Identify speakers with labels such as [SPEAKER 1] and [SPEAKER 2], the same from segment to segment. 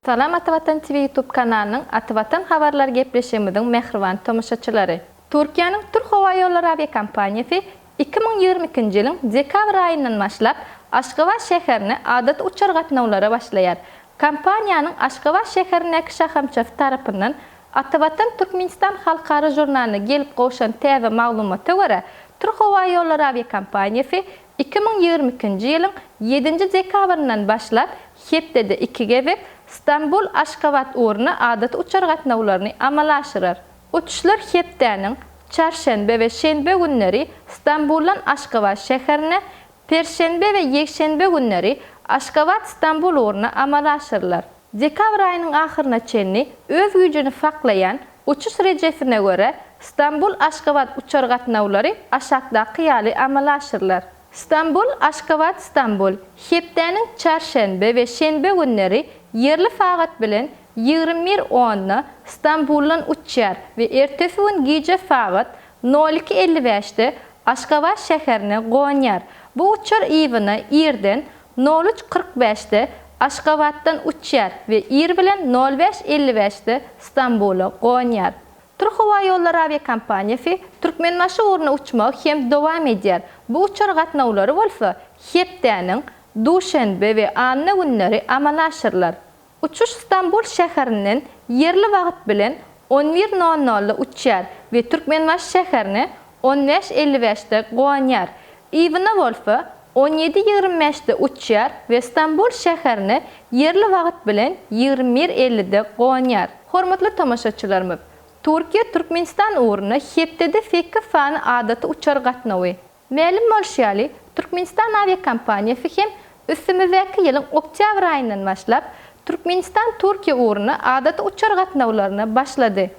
[SPEAKER 1] Salam Ata Watan TV YouTube kanalynyň Ata Watan habarlary gepleşigimiziň mähriban tomaşaçylary! Türkiýäniň Türk howa ýollary awiakompaniýasy iki müň ýigrimi ikinji ýylyň dekabr aýyndan başlap Aşgabat şäherine adaty uçar gatnawlara başlaýar. Kompaniýanyň Aşgabat şäherindäki şahamçasy tarapyndan Atawatan Türkmenistan halkara žurnalyna gelip gowşan täze maglumata görä, Türkhowaýollary awiakompaniýasy iki müň ýigrimi ikinji ýylyň ýedinji dekabryndan başlap hepdede iki gezek Stambul, Aşgabat ugruna adaty uçar gatnawlaryny amala aşyrar. Uçuşlar hepdäniň çarşenbe we şenbe günleri Stambuldan Aşgabat şäherine, Perşenbe we ýekşenbe günleri Aşgabat-Stambul ugruna amala aşyrylar. Dekabr aýynyň ahyryna çenli öz güýjüni saklaýan uçuş rejesine görä, Stambul-Aşgabat uçar gatnawlary aşakdaky ýaly amala aşyrylar. Stambul-Aşgabat-Stambul hepdäniň çarşenbe we şenbe günleri ýerli sagat bilen Ýigrimi bir onda Stambuldan uçýar we ertesi gün gije sagat nol iki elli bäşde Aşgabat şäherine gonýar. Bu uçar yzyna irden nol üç kyrk bäşde Aşgabatdan uçýar we ir bilen nol bäş elli bäşde Stambula gonýar. Türkhowaýollary awiakompaniýasy Türkmenbaşy ugruna uçmagy hem dowam edýär. Bu uçar gatnawlary bolsa hepdäniň duşenbe we anna günleri amala aşyrylar. Uçuş Stambul şäherinden ýerli wagt bilen on bir nol nolda uçýar we Türkmenbaşy şäherine on bäş elli bäşde gonýar. Iwna bolsa on ýedi ýigrimi bäşde uçýar we Stambul şäherine ýerli wagt bilen ýigrimi bir ellide gonýar. Hormatly tomaşaçylarymyz, Türkiýe Türkmenistan ugruna hepdede sekiz sany adaty uçar gatnawy, Mälim bolşy ýaly, Türkmenistan awiakompaniýasy hem üstümizdäki ýylyň oktýabr aýyndan başlap, Türkmenistan-Türkiýe ugruna adaty uçar gatnawlaryna başlady.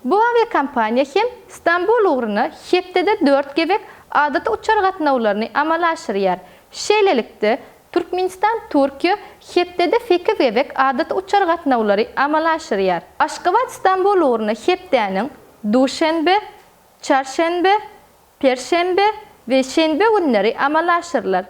[SPEAKER 1] Bu awiakompaniýa hem Stambul ugruna hepdede dört gezek adaty uçar gatnawlaryny amala aşyrýar. Şeýlelikde, Türkmenistan-Türkiýe hepdede sekiz gezek adaty uçar gatnawlary amala aşyrýar. Aşgabat-Stambul ugruna hepdäniň duşenbe, çarşenbe, perşenbe we şenbe günleri amala aşyrylar.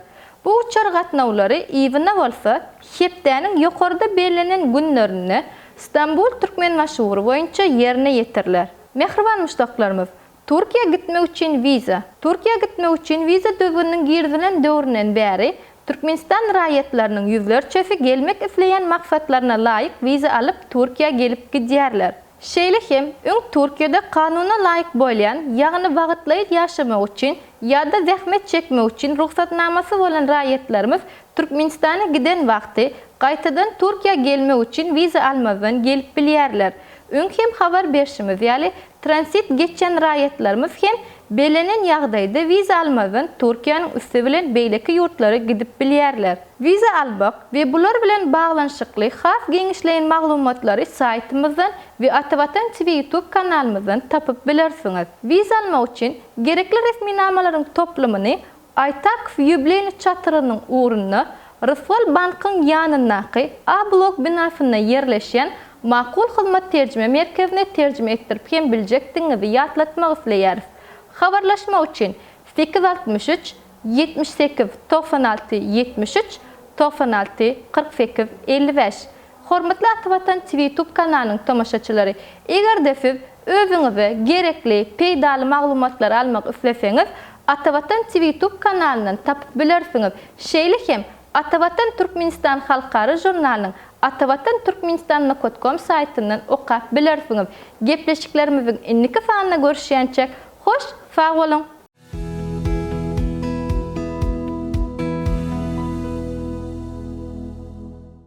[SPEAKER 1] Bu uçar gatnawlary yzyna bolsa hepdäniň ýokarda bellenen günlerinde Stambul-Türkmenbaşy-ugry boýunça ýerine ýetiriler. Mähriban muşdaklarymyz, Türkiýä gitmek üçin wiza. Türkiýä gitmek üçin wiza düzgüniniň girizilen döwründen bäri Türkmenistan raýatlarynyň ýüzlerçesi gelmek isleýän maksatlaryna laýyk wiza alyp Türkiýä gelip gidýärler. Şeýle hem, öň Türkiýede kanuna laýyk bolýan, ýagny wagtlaýyn ýaşamak üçin ýa-da zähmet çekmek üçin rugsatnamasy bolan raýatlarymyz Türkmenistana giden wagty gaýtadan Türkiýä gelmek üçin wiza almazdan gelip bilýärler. Öň hem habar berşimiz ýaly, transit geçýän raýatlarymyz hem Bellenen ýagdaýda wiza almazdan Türkiýäniň üsti bilen beýleki ýurtlara gidip bilýärler. Wiza almak we bular bilen baglanyşykly has giňişleýin maglumatlary saýtymyzdan we Atavatan TV YouTube kanalymyzdan tapyp bilersiňiz. Wiza almak üçin gerekli resminamalaryň toplumyny Aýtak Ýubileýny çatrynyň ugrunda Ryswal bankyň ýanyndaky A-blok binasynda ýerleşýän Makul hyzmat terjime merkezine terjime etdirip hem biljekdigiňizi ýatlatmak isleýäris. Habarlaşmak üçin sekiz altmyş üç ýetmiş sekiz togsan alty ýetmiş üç togsan alty kyrk sekiz elli bäş Hormatly Atavatan TVtube kanalynyň tomaşaçylary, eger-de siz özüňize gerekli, peýdaly maglumatlary almak isleseňiz, Atavatan TVtube kanalyndan tapyp bilersiňiz. Şeýle hem Atavatan Türkmenistan halkara žurnalynyň Atavatan Türkmenistan Nokotkom saýtyndan okap bilersiňiz. Gepleşiklerimiziň indiki sanynda görüşýänçäk, hoş sag boluň!